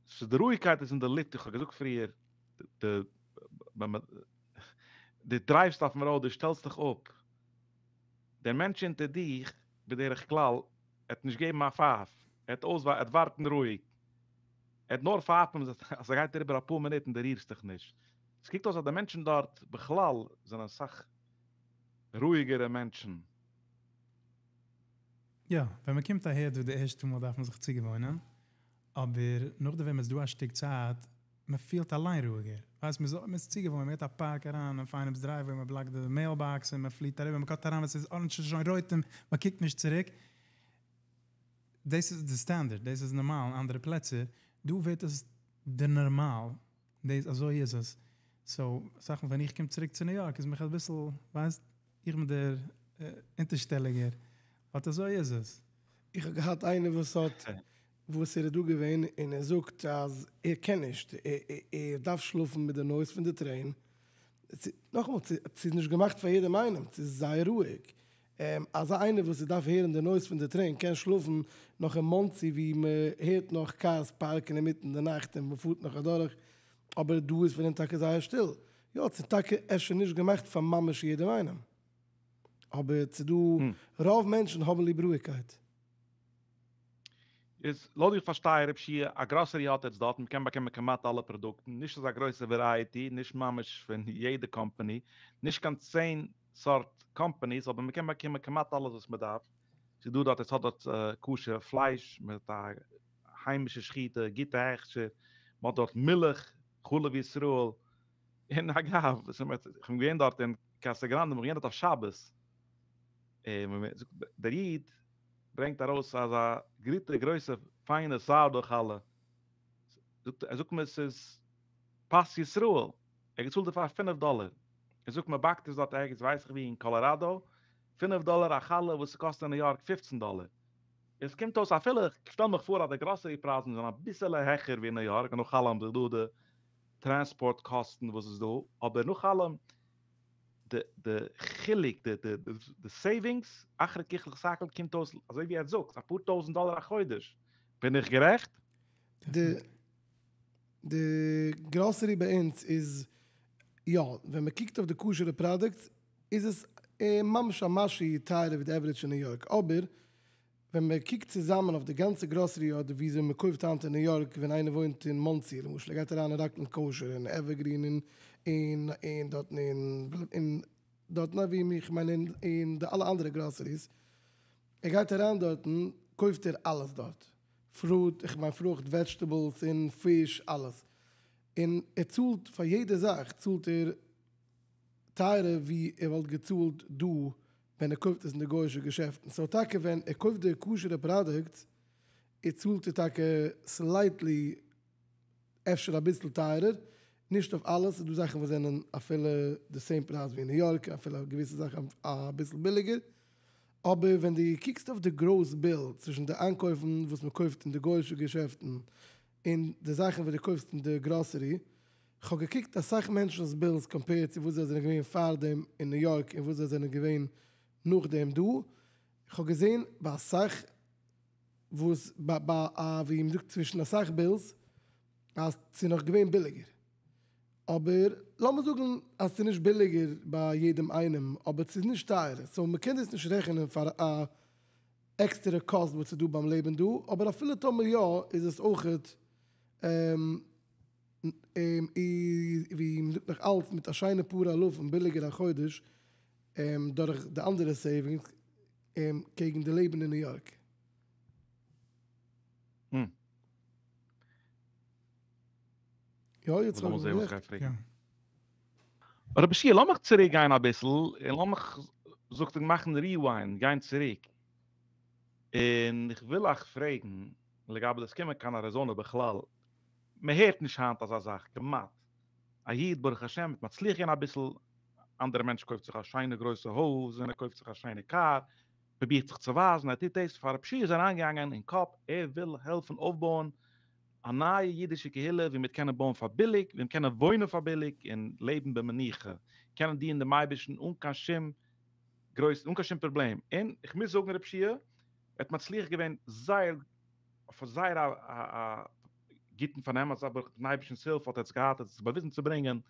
A: ס'איז די רואיגקייט איז אין די לופט, איך האב געזאגט פריער, די ווען מען די דרייווסט אויפן ראוד די שטעלסט דיך אפ, דער מענטש אונטער דיך בדרך כלל ער וועט נישט געבן א פייף, ער וועט אויס ער וועט ווארטן רואיג, ער וועט נאר פייפן אז עס גייט אריבער אפאר מינוט און די רירסט דיך נישט, עס קוקט אויס אז די מענטשן דארט בכלל זענען סאך רואיגערע מענטשן.
C: יא, ווען מען קומט אהער דא די ערשטע מאל דארף מען זיך צוגעוואוינען, אבער נאכדעם ווען מען איז דא א שטיק צייט, מען פילט אליין רואיגער, ווייסט, מען איז צוגעוואוינט, מען געט א פאק אריין אויף איינעמ'ס דרייוועי, מען בלאקט די מעיל באקס און מען פליט אריבער, מען קאט אריין ווען ס'איז אנדערש איז שוין רויט און מען קוקט נישט צוריק, דאס איז די סטענדערד, דאס איז נארמאל אין אנדערע פלעצער, דא ווערט עס די נארמאל. דעיס אזוי איז עס, סאו אסאך מאל ווען איך קום צוריק צו ניו יארק איז מיך אביסל ווייסט, איך בין דער אונטערשטעליגער, באט אזוי איז עס. איך האב געהאט
B: איינער וואס האט וואס ער איז דא געווען און ער זאגט אז ער קען נישט, ער דארף שלאפן מיט די נויז פון די טרעין, נאכאמאל ס'איז נישט געמאכט פאר יעדעם איינעם, ס'איז זייער רואיג, און אזא איינער וואס איז דארף הערן די נויז פון די טרעין קען שלאפן נאך אין מאנסי ווי מען הערט נאך קארס פארקן אינמיטן די נאכט און מען פארט נאך אדורך, אבער דא איז פון דעם טאקע זייער שטיל, יא ס'איז טאקע אפשר נישט געמאכט פאר ממש יעדעם איינעם, אבער ס'איז דא, רוב מענטשן האבן ליב רואיגקייט. איז
A: לויט ווי איך פארשטיי רב שיע, א גראסערי האט עטס דארט, מען קען באקומען כמעט אלע פראדוקטן, נישט אזא גרויסע ווערייעטי, נישט ממש פון יעדע קאמפאני, נישט קיין צען, סארט קאמפאניס אבער מען קען באקומען כמעט אלעס וואס מען דארף, ס'איז דא דארט עס האט דארט כשר פלייש מיט א היימישע שחיטה גוטע הכשר, מען האט דארט מילך, חלב ישראל, און אגב איך בין געווען דארט אין קאסא גראנדע מיר האבן געענדיגט אויף שבת, און דער איד ברענגט ארויס אזא גוטע גרויסע פיינע סארדאו חלה, זאגט ער זאגט מיר ס'איז פת ישראל. ער האט געצאלט דערפאר פינף דאלער, ער זאגט מען באקט עס דארט ערגעץ ווייס איך ווי אין קאלאראדא, פינף דאלער א חלה וואס עס קאסט אין ניו יארק פֿופֿצן דאלער, עס קומט אויס אפילו איך שטעל מיך פאר אז די גראסערי פרייזן זענען אביסעלע העכער ווי אין ניו יארק נאך אלעם די דא די טרענספארט קאסטן וואס איז דא, אבער נאך אלעם די די חילוק די די די סעיווינגס אחרי ככלות הכל קומט אויס אזוי ווי עטס זאגטס אפאר טויזענט דאלער א חודש, בין איך גערעכט? די.
B: די גראסערי ביי אונז איז יא, ווען מען קוקט אויף די כשר'ע פראדוקטס איז עס ממש א משהו טייערער ווי די עווערעדזש אין ניו יארק, אבער ווען מען קוקט צוזאמען אויף די גאנצע גראסערי אדער וויאזוי מען קויפט היינט אין ניו יארק, ווען איינער וואוינט אין מאנסי למשל ער גייט אריין אין ראקלענד קאושער און עווערגרין און און און דארטן און און דארטן אווי איך מיין און און די אלע אנדערע גראסעריס, ער גייט אריין דארטן קויפט ער אלעס דארט, פרוד, איך מיין פרוכט, וועדזשטעבלס און פיש אלעס. און ער צאלט פאר יעדע זאך צאלט ער טייערער ווי ער וואלט געצאלט דא ווען ער קויפט עס אין די גוי'שע געשעפטן. סאו טאקע ווען ער קויפט די כשר'ע פראדוקטס איז צאלט ער טאקע סלייטלי. אפשר אביסל טייערער, נישט אויף אלעס, ס'איז דא זאכן וואס זענען אפילו די סעים פרייז ווי אין ניו יארק, אפילו געוויסע זאכן אביסל ביליגער, אבער ווען דו קוקסט אויף די גראוס ביל צווישן די איינקויפן וואס מען קויפט אין די גוי'אישע געשעפטן און די זאכן וואס דו קויפסט אין די גראסערי, כ'האב געקוקט אסאך מענטשנ'ס בילס קאמפעירד צו וואס זיי זענען געווען פארדעם אין ניו יארק און וואס זיי זענען געווען נאכדעם דא, כ'האב געזען ביי אסאך. וואס ביי ביי א ווי מען זאגט צווישן אסאך בילס אז ס'איז נאך געווען ביליגער, אבער לאמיר זאגן אז ס'איז נישט ביליגער ביי יעדעם איינעם אבער ס'איז נישט טייערער, סאו מען קען דאס נישט רעכענען פאר א עקסטערע קאסט וואס איז דא ביים לעבן דא, אבער אפילו טאמער יא איז עס אויכעט ווי מען זאגט נאך אלץ מיט א שיינע פאר אלפים ביליגער א חודש דורך די אנדערע סעיווינגס. אים קעגן די לעבן אין ניו יארק. יא יצחק
A: האט גערעכט. רבשע לאמיך צוריק גיין אביסל און לאמיך זאגט ער מאכן ריוויינד גיין צוריק און איך וויל אייך פרעגן לגבי דאס קומען קיין אריזאנע בכלל מען הערט נישט היינט אזא זאך כמעט. א איד ברוך השם מיט מצליח געווען אביסל, אנדערע מענטש קויפט זיך א שיינע גרויסע הויז און ער קויפט זיך א שיינע קאר, פרובירט זיך צו ווייזן ער טוט דאס, פאר רב שי' איז אריינגעגאנגען אין קאפ ער וויל העלפן אויפבויען א נייע אידישע קהילה ווי מ'וועט קענען בויען פאר ביליג, מ'וועט קענען וואוינען פאר ביליג און לעבן במנוחה, קענען דינען דעם אייבערשטן אן קיין שום גרויס אן קיין שום פראבלעם, און איך מוז זאגן רב שי' האט מצליח געווען זייער אויף א זייער א א א. גוטן פארן אמת אבער מיטן אייבישטענס הילף האט ער עס געהאט ער האט עס באוויזן צו ברענגען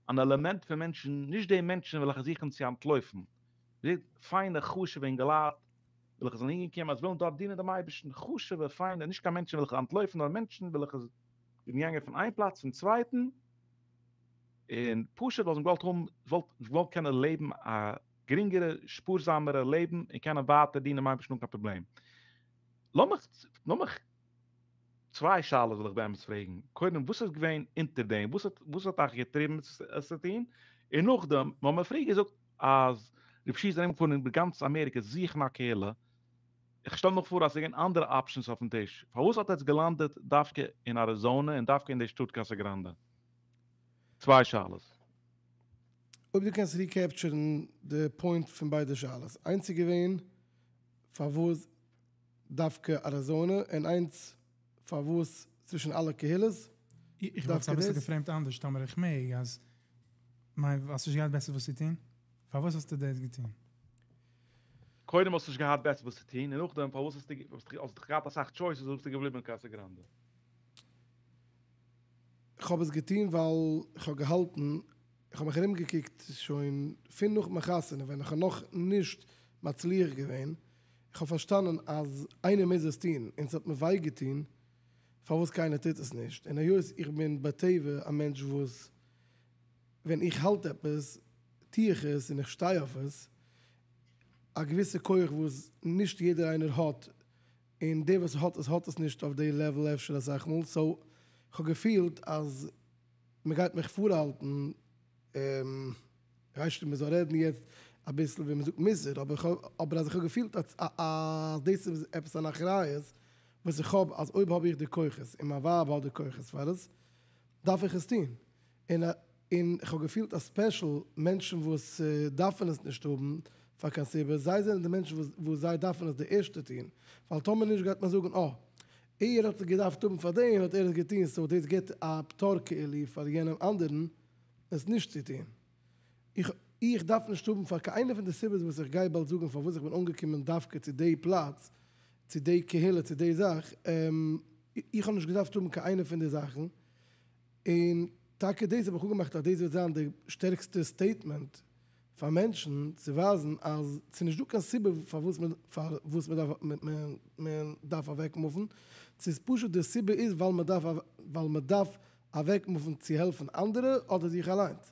A: אן עלעמענט פון מענטשן נישט די מענטשן וועלכע זוכן צו אנטלויפן די פיינע חשוב'ע אינגעלייט וועלכע זענען אהין געקומען אז ווילן דארט דינען דעם אייבישטן חשוב'ע פיינע נישט קיין מענטשן וועלכע אנטלויפן נאר מענטשן וועלכע זענען געגאנגען פון איין פלאץ צום צווייטן און פשוט ווייל זיי האבן געוואלט האבן וואלט געוואלט קענען לעבן א גרינגערע שפארזאמערע לעבן און קענען ווייטער דינען דעם אייבישטן אן קיין פראבלעם לאמיך לאמיך צוויי שאלות וויל איך באמת פרעגן, קודם וואס איז געווען אונטער דעם, וואס האט וואס האט אייך געטריבן עס צו טון, און נאכדעם מ'האט מיר פריער געזאגט אז רב שי איז ארום געפארן איבער גאנץ אמעריקע זוכן א קהילה, איך שטעל מיך פאר אז עס איז געווען אנדערע אפשענס אויפן טיש, פארוואס האט עטס געלאנדעט דווקא אין אריזאנע און דווקא אין די שטאט קאסא גראנדע? צוויי שאלות. אויב
B: דו קענסט ריקעפטשערן די פוינט פון ביידע שאלות, איינס איז געווען פארוואס. דווקא אריזאנע און איינס פארוואס צווישן אלע קהילות איך וואלט עס
C: אביסל געפרעימט אנדערש, טאמער איך מעג, אז מיין ווייל האסט נישט געהאט בעסער וואס צו טון? פארוואס האסטו דאס געטון?
A: קודם האסט נישט געהאט בעסער וואס צו טון, און נאכדעם פארוואס האסטו, האסט דאך געהאט אסאך טשויסעס וואלסטו געבליבן אין קאסע גראנדע. איך
B: האב עס געטון ווייל איך האב געהאלטן איך האב מיך ארומגעקוקט שוין פון נאך מיין חתונה ווען איך האב נאך נישט מצליח געווען, איך האב פארשטאנען אז איינער מוז עס טון און ס'האט מיר וויי געטון פארוואס קיינער טוט עס נישט, און היות איך בין בטבע א מענטש וואס ווען איך האלט עפעס טו איך עס און איך שטיי אויף עס, א געוויסע כח וואס נישט יעדער איינער האט, און דער וואס האט עס האט עס נישט אויף די לעוול אפשר אסאך מאל, סאו איך האב געפילט אז. מ'גייט מיך פארהאלטן ר' שלמה זאל רעדן יעצט אביסל ווי מ'זאגט מוסר, אבער אז איך האב געפילט אז דאס איז עפעס אן אחריות וואס איך האב אז אויב האב איך די כוחות און מיין ווייב האט די כוחות פאר עס דארף איך עס טון, און איך האב געפילט אז ספעשל מענטשן וואס דארפן עס נישט האבן פאר קיין סיבה, זיי זענען די מענטשן וואס זיי דארפן עס די ערשטע טון, ווייל טאמער נישט גייט מען זאגן אה. ער האט עס געדארפט האבן פאר דעם האט ער עס געטון סאו דאס גיבט א פטור כאילו פאר יענעם אנדערן עס נישט צו טון. איך איך דארף נישט האבן פאר קיין איינע פון די סיבות וואס איך גיי באלד זאגן פארוואס איך בין אנגעקומען דווקא צו די פלאץ צו די קהילה צו די זאך איך האב נישט געדארפט האבן קיין איינע פון די זאכן און טאקע דאס האב איך אפגעמאכט אז דאס וועט זיין די שטערקסטע סטעיטמענט פאר מענטשן צו ווייזן אז ס'איז נישט דא קיין סיבה פארוואס מען דארף אוועקמופן, צו ס'איז פשוט די סיבה איז ווייל מען דארף אוועקמופן צו העלפן אנדערע אדער זיך אליינס.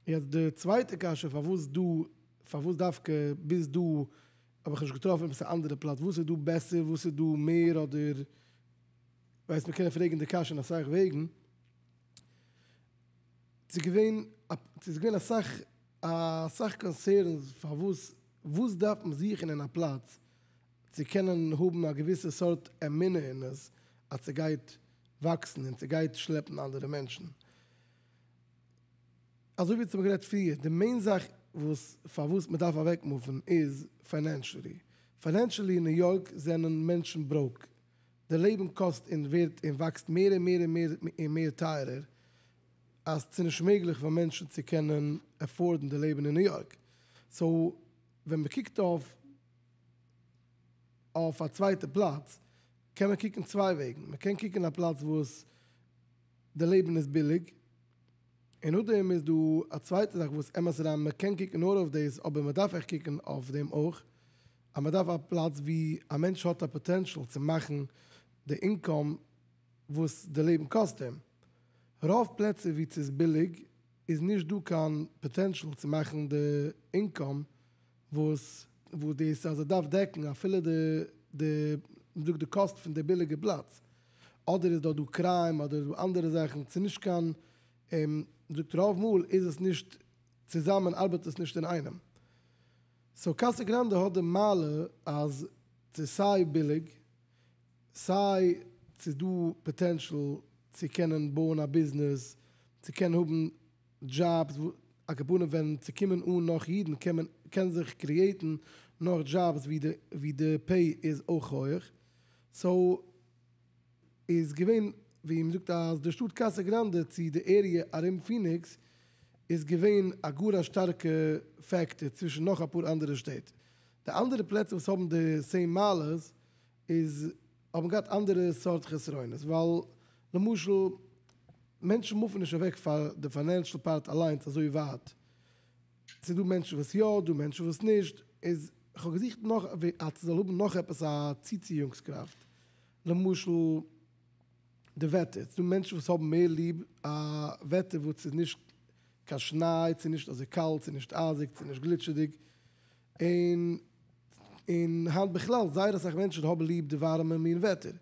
B: יעצט די צווייטע קשיא פארוואס דא, פארוואס דווקא ביז דא האב איך נישט געטראפן עפעס א אנדערע פלאץ, וואס איז דא בעסער, וואס איז דא מער אדער, ווייסט מיר קענען פרעגן די קשיא אין אסאך וועגן, ס'איז געווען א, ס'איז געווען אסאך, אסאך קאנסערנס פארוואס, וואס דארף מען זוכן אין א פלאץ צו קענען האבן א געוויסע סארט אמונה אין עס אז ס'גייט וואקסן און ס'גייט שלעפן אנדערע מענטשן. אזוי ווי ס'האמיר גערעדט פריער, די מעין זאך וואס פארוואס מ'דארף אוועק מופן איז פיינענשעלי. פיינענשעלי אין ניו יארק זענען מענטשן בראוק. די לעבן קאסט און ווערט און וואקסט מער און מער און מער און מער טייערער, אז ס'איז נישט מעגליך פאר מענטשן צו קענען עפארדן די לעבן אין ניו יארק. סאו ווען מ'קוקט אויף אויף א צווייטע פלאץ, קען מען קוקן צוויי וועגן. מ'קען קוקן א פלאץ וואס די לעבן איז ביליג, און נאכדעם איז דא א צווייטע זאך וואס אמת אריין מ'קען קוקן נאר אויף דאס אבער מ'דארף עכט קוקן אויף דעם אויך, אז מען דארף א פלאץ ווי א מענטש האט א פאטענשאל צו מאכן די אינקאם וואס די לעבן קאסט אים. רוב פלעצער וואו ס'איז ביליג איז נישט דא קיין פאטענשאל צו מאכן די אינקאם וואס. וואס דאס אז ער דארף דעקן אפילו די די מ'זאגט די קאסט פון די ביליגע פלאץ. אדער איז דארט דא קריים אדער איז דא אנדערע זאכן ס'איז נישט קיין מ'זאגט רוב מאל איז עס נישט צוזאמען ארבעט עס נישט אינאיינעם. סאו קאסא גראנדע האט די מעלה אז ס'איז סיי ביליג, סיי ס'איז דא פאטענשאל צו קענען בויען א ביזנעס, צו קענען האבן דזשאבס, הכוונה ווען ס'קומען אן נאך אידן קען מען קען זיך קריעטן נאך דזשאבס ווי די פעי איז אויך הויעך, סאו. איז געווען ווי מ'זאגט אז די שטאט קאסא גראנדע צו די עריע ארום פיניקס איז געווען א גאר א שטארקע פעקטאר צווישן נאך אפאר אנדערע שטעט. די אנדערע פלעצער וואס האבן די סעים מעלות איז האבן געהאט אנדערע סארט חסרונות ווייל למשל מענטשן מופן נישט אוועק פאר די פיינענשל פארט אליינס אזוי ווייט ס'איז דא מענטשן וואס יא, דא מענטשן וואס נישט, איז כ'האב געזוכט נאך אז ס'זאל האבן נאך עפעס א צוציאונגס קראפט, למשל די וועטער, ס'איז דא מענטשן וואס האבן מער ליב א וועטער וואס איז נישט קיין שניי, ס'איז נישט אזוי קאלט, ס'איז נישט אייזיג, ס'איז נישט גליטשעדיג, און און היינט בכלל זייער אסאך מענטשן האבן ליב די ווארעמע מין וועטער,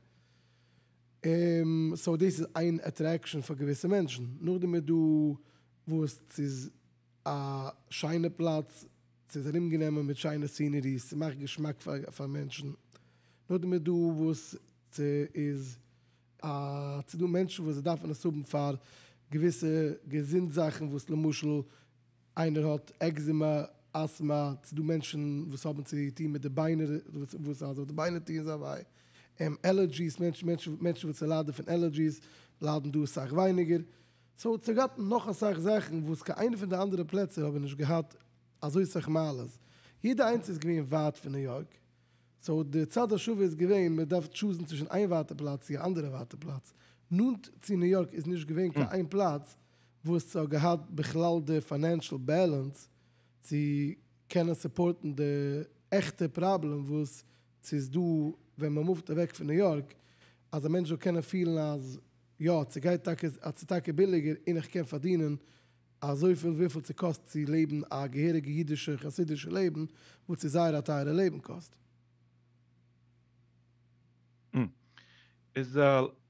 B: סאו דאס איז איין עטרעקשאן פאר געוויסע מענטשן, נאכדעם איז דא וואס ס'איז. א שיינע פלאץ, ס'איז ארומגענומען מיט שיינע סינעריס, ס'מאכט געשמאק פאר מענטשן, נאכדעם איז דא וואס ס'איז א, ס'איז דא מענטשן וואס זיי דארפן עס האבן פאר געוויסע געזונט זאכן וואס למשל איינער האט עקזימע, אסטמא, ס'איז דא מענטשן וואס האבן צו טון מיט די ביינער, וואס אז די ביינער טוען זיי וויי, עלערדזשיס, מענטשן וואס ליידן פון עלערדזשיס ליידן דא אסאך ווייניגער. סאו צו גאט און נאך אסאך זאכן וואס קיין איינע פון די אנדערע פלעצער האבן נישט געהאט אזוי סאך מעלות, יעדע איינס איז געווען ווייט פון ניו יארק, סאו די צד השווה איז געווען מען דארף טשוזן צווישן איין ווייטע פלאץ צו א אנדערע ווייטע פלאץ, נאנט צו ניו יארק איז נישט געווען קיין איין פלאץ וואס ס'האט געהאט בכלל די פיינענשל בעלענס צו קענען סופארטן די עכטע פראבלעם וואס ס'איז דא ווען מען מופט אוועק פון ניו יארק אז א מענטש זאל קענען פילן אז יא, ס'גייט טאקע אז ס'איז טאקע ביליגער און איך קען פארדינען אזויפיל וויפיל ס'קאסט צו לעבן א געהעריגע אידישע חסידישע לעבן וואס איז זייער א טייערע לעבן קאסט. ם,
A: איז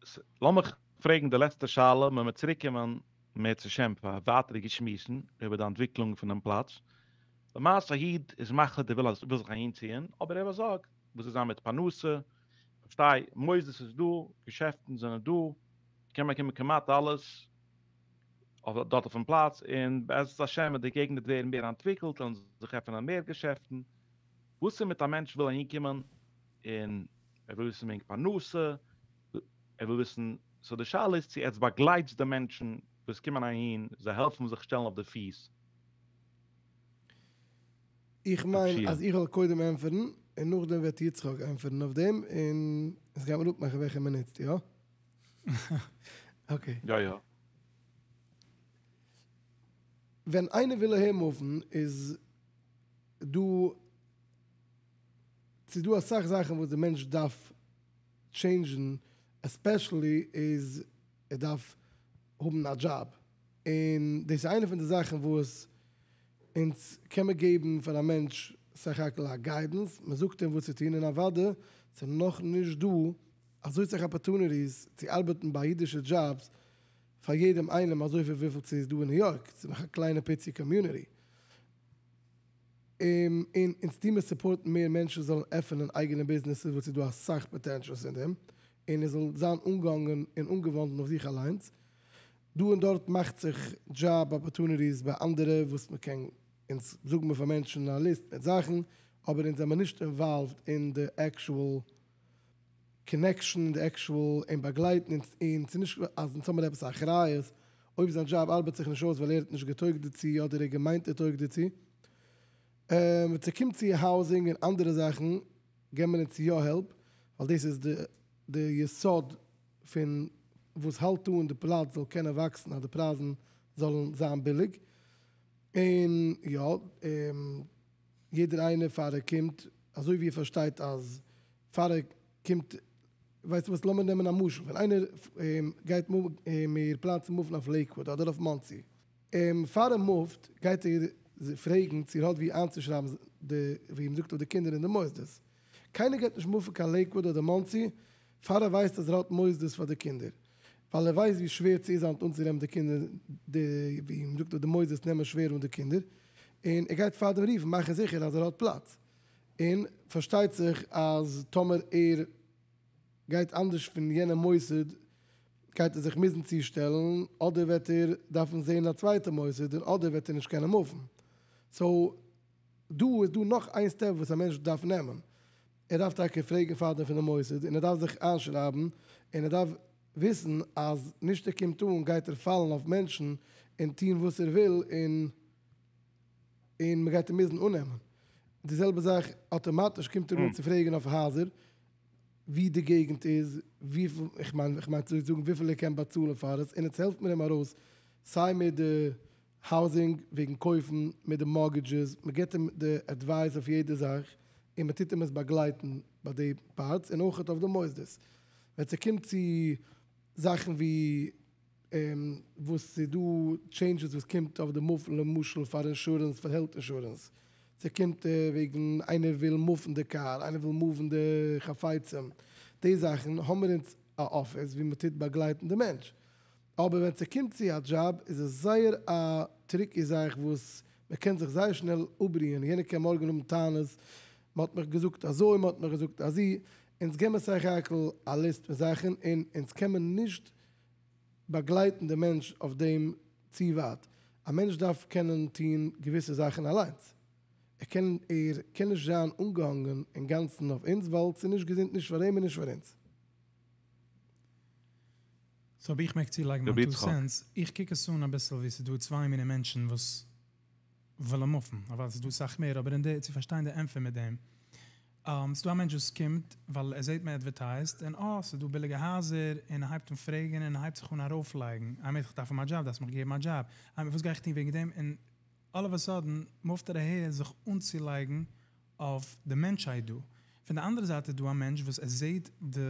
A: ס, לאמיך פרעגן די לעצטע שאלה מ'מעט צוריקקומען מער צו שם פאר ווייטערע געשמועסן איבער די אנטוויקלונג פונעם פלאץ. למעשה א איד איז מחליט ער וויל אז ער וויל זיך אהינציען אבער ער באזארגט וואס וועט זיין מיט פרנסה, פארשטיי, מוסדות איז דא, געשעפטן זענען דא, קען באקומען כמעט אלעס, אויף דארט אויפן פלאץ, און בעזרת השם וועט די געגנט ווערן מער אנטוויקלט, וועלן זיך עפענען מער געשעפטן, וואס איז מיט א מענטש וויל אהין קומען, און ער וויל וויסן וועגן פרנסה, ער וויל וויסן, סאו די שאלה איז צו עטס באגלייטס די מענטשן וואס קומען אהין, זיי העלפן זיך שטעלן אויף די פיס.
B: איך מיין אז איך וועל קודם
A: ענטפערן
B: און נאכדעם וועט יצחק ענטפערן אויף דעם און עס גייט מען אפמאכן וועלכע מען נוצט, יא? אקעי. יא יא. ווען איינער וויל אהער מופן איז דא, ס'איז דא אסאך זאכן וואס די מענטש דארף טשעינדזשן, עספעשעלי איז ער דארף האבן א דזשאב, און דאס איז איינע פון די זאכן וואס אונז קען מען געבן פאר א מענטש סך הכל א גיידענס, מען זאגט אים וואס צו טון, און אוודאי ס'איז נאך נישט דא אזוי סאך אפערטוניטיס צו ארבעטן ביי אידישע דזשאבס פאר יעדעם איינעם אזויפיל וויפיל ס'איז דא אין ניו יארק, ס'איז נאך א קליינע פיצי קאמיוניטי, און אונז טוהן מיר סופארטן מער מענטשן זאלן עפענען אייגענע ביזנעסער וואס איז דא אסאך פאטענטשעלס אין דעם, און עס זאל זיין אנגעהאנגען און אנגעוואנדן אויף זיך אליינס. דא און דארט מאכט זיך דזשאב אפארטוניטיס ביי אנדערע וואס מען קען אונז זאגן מען פאר מענטשן א ליסט מיט זאכן אבער אונז זעמיר נישט אינוואלווד אין די עקשועל קאנעקשאן אין די עקשועל אים באגלייטן און ס'איז נישט אז אונז האמיר עפעס א אחריות אויב זיין דזשאב ארבעט זיך נישט אויס ווייל ער האט נישט געטויגט דערצו אדער ער האט געמיינט ער טויגט דערצו ווען ס'קומט צו האוזינג און אנדערע זאכן געבן מיר אונז יא העלפ ווייל דאס איז די יסוד פון וואס האלט אן די פלאץ זאל קענען וואקסן אז די פרייזן זאלן זיין ביליג, און יא יעדער איינער פאר ער קומט אזוי ווי ער פארשטייט אז פאר ער קומט ווייסטו וואס לאמיר נעמען א משל ווען איינער גייט מיר פלאץ מופן אויף לעיקוואד אדער אויף מאנסי, פאר ער מופט גייט ער פרעגן צו ער האט ווי איינצושרייבן די ווי מען זאגט אויף די קינדער אין די מוסדות, קיינער גייט נישט מופן קיין לעיקוואוד אדער מאנסי פאר ער ווייסט אז ער האט מוסדות פאר די קינדער, ווייל ער ווייסט ווי שווער צו איז היינט אנצונעמען די קינדער, די ווי מען זאגט אז די מוסדות נעמען שווער אן די קינדער, און ער גייט פארדעם רופן מאכן זיכער אז ער האט פלאץ, און פארשטייט זיך אז טאמער ער גייט אנדערש פון יענע מוסד גייט ער זיך מוזן צושטעלן אדער וועט ער דארפן זען א צווייטע מוסד און אדער וועט ער נישט קענען מופן, סאו. דא איז דא נאך איין סטעפ וואס א מענטש דארף נעמען, ער דארף טאקע פרעגן פארדעם פון די מוסד און ער דארף זיך איינשרייבן און ער דארף וויסן אז נישט ער קומט אן גייט ער פאלן אויף מענטשן און טון וואס ער וויל און און מען גייט אים מוזן אננעמען, די זעלבע זאך אטאמאטיש קומט ער אן צו פרעגן אויף הייזער ווי די געגנט איז, וויפיל, איך מיין איך מיין צו זאגן וויפיל ער קען באצאלן פאר עס און עטס העלפט מיר אים ארויס סיי מיט די. האוזינג וועגן קויפן מיט די מארגעדזשעס, מען געבט אים די עדווייס אויף יעדע זאך און מען טוט אים עס באגלייטן ביי די פארטס און אויכעט אויף די מוסדות ווען ס'קומט צו זאכן ווי וואס ס'איז דא טשעינדזשעס וואס קומט אויף די מופן למשל פאר אינשורענס פאר העלט אינשורענס ס'קומט וועגן איינער וויל מופן די קאר איינער וויל מאוון די חפצים די זאכן האמער אונז א אפיס ווי מען טוט באגלייטן די מענטש אבער ווען ס'קומט צו א דזשאב איז עס זייער א טריקי זאך וואס מען קען זיך זייער שנעל אפבריען, יענער קען מארגן האבן טענות, מען האט מיך געזאגט אזוי, מען האט מיך געזאגט אזי, אונז געבן סך הכל א ליסט פון זאכן און אונז קען מען נישט באגלייטן די מענטש אויף דעם צו ווייט, א מענטש דארף קענען טון געוויסע זאכן אליינס, ער קען ער קען נישט זיין אנגעהאנגען אינגאנצן אויף אונז ווייל ס'איז נישט געזונט נישט פאר אים און נישט פאר אונז.
C: סאו אויב איך מעג צולייגן מיין טו סענטס, איך קוק עס אן אביסל ווי ס'איז דא צוויי מיני מענטשן וואס ווילן מופן, אוודאי ס'איז דא אסאך מער, אבער אין די, צו פארשטיין די ענפער מיט דעם, ס'איז דא א מענטש וואס קומט ווייל ער זעט מען עדווערטייזט און אה, ס'איז דא ביליגע הייזער, און ער הייבט אן פרעגן און ער הייבט זיך אן ארויפלייגן, האמת איך דארף אים א דזשאב, דארפסט מיך געבן א דזשאב, האמת וואס גיי איך טון וועגן דעם, און אלל אוו א סאדען מופט ער אהער זיך אנצולייגן אויף די מענטשהייט דא, פון די אנדערע זייט איז דא א מענטש וואס ער זעט די.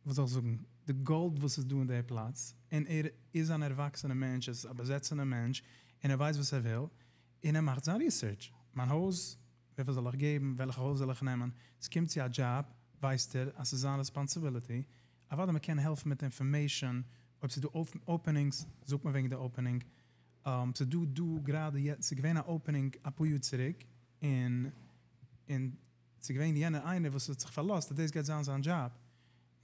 C: וואס זאל איך זאגן, די גאלד וואס איז דא אין די פלאץ, און ער איז אן ערוואקסענע מענטש, ער איז א באזעצענע מענטש, און ער ווייסט וואס ער וויל, און ער מאכט זיין ריסערטש, מיין הויז, וויפיל זאל איך געבן, וועלכע הויז זאל איך נעמען, ס'קומט צו א דזשאב, ווייסט ער אז ס'איז זיין רעספאנסיביליטי, אוודאי מען קען העלפן מיט אינפארמעישאן, אויב ס'איז דא אפענינגס, זאגט מען וועגן די אפענינג, ס'איז דא דא גראדע יעצט, ס'איז געווען א אפענינג אפאר יאר צוריק, און ס'איז געווען יענער איינער וואס האט זיך פארלאזט אז דאס גייט זיין זיין דזשאב,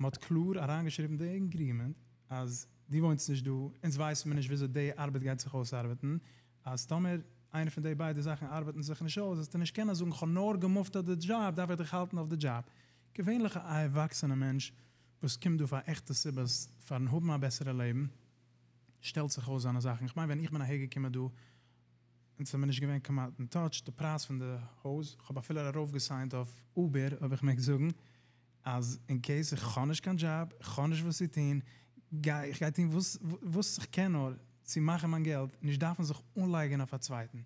C: מ'האט קלאר אריינגעשריבן די עגרימענט אז דו וואוינסט נישט דא, אונז ווייסן מיר נישט וויאזוי די ארבעט גייט זיך אויסארבעטן, אז טאמער איינע פון די ביידע זאכן ארבעטן זיך נישט אויס וועסטו נישט קענען זאגן כ'האב נאר געמופט אט די דזשאב דארף איך דיך האלטן אויף די דזשאב. געווענליך א ערוואקסענע מענטש וואס קומט דא פאר עכטע סיבות פארן האבן א בעסערע לעבן שטעלט זיך אויס זיינע זאכן, כ'מיין ווען איך בין אהערגעקומען דא אונז האמיר נישט געווען כמעט אין טאטש, די פרייז פון די הויז, כ'האב אפילו ארויף געסיינט אויף אובער, אויב איך מעג זאגן, אז אין קעיס איך האב נישט קיין דזשאב, איך האב נישט וואס צו טון, גיי איך גיי טון וואס וואס איך קען נאר, צו מאכן מיין געלט, נישט דארפן זיך אנלייגען אויף א צווייטן.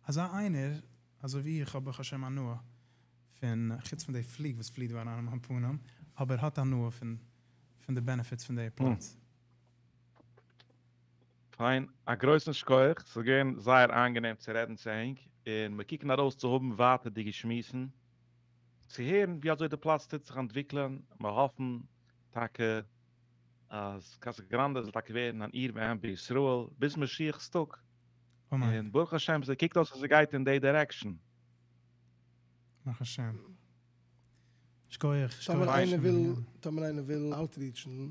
C: אזא איינער, אזוי ווי איך, האב ברוך השם הנאה פון, חוץ פון די פליג וואס פליט דא אריין אין מיין פנים, אבער האט הנאה פון פון די בענעפיטס פון די עירפארטס.
A: פיין, א גרויסן שכוח, ס'איז געווען זייער איינגענעם צו רעדן צו ענק, און מיר קוקן ארויס צו האבן ווייטערדיגע שמועסן, צו הערן ווי אזוי די פלאץ טוט זיך אנטוויקלען, מיר האפן טאקע אז קאסא גראנדע זאל טאקע ווערן אן עיר ואם בישראל ביז משיח'ס טאג, און
C: ברוך השם ס'קוקט
A: אויס אז ס'גייט אין די דירעקשאן. ברוך
C: השם. שכוח, שכוח. טאמער איינער וויל,
B: טאמער איינער וויל אוטריטשן.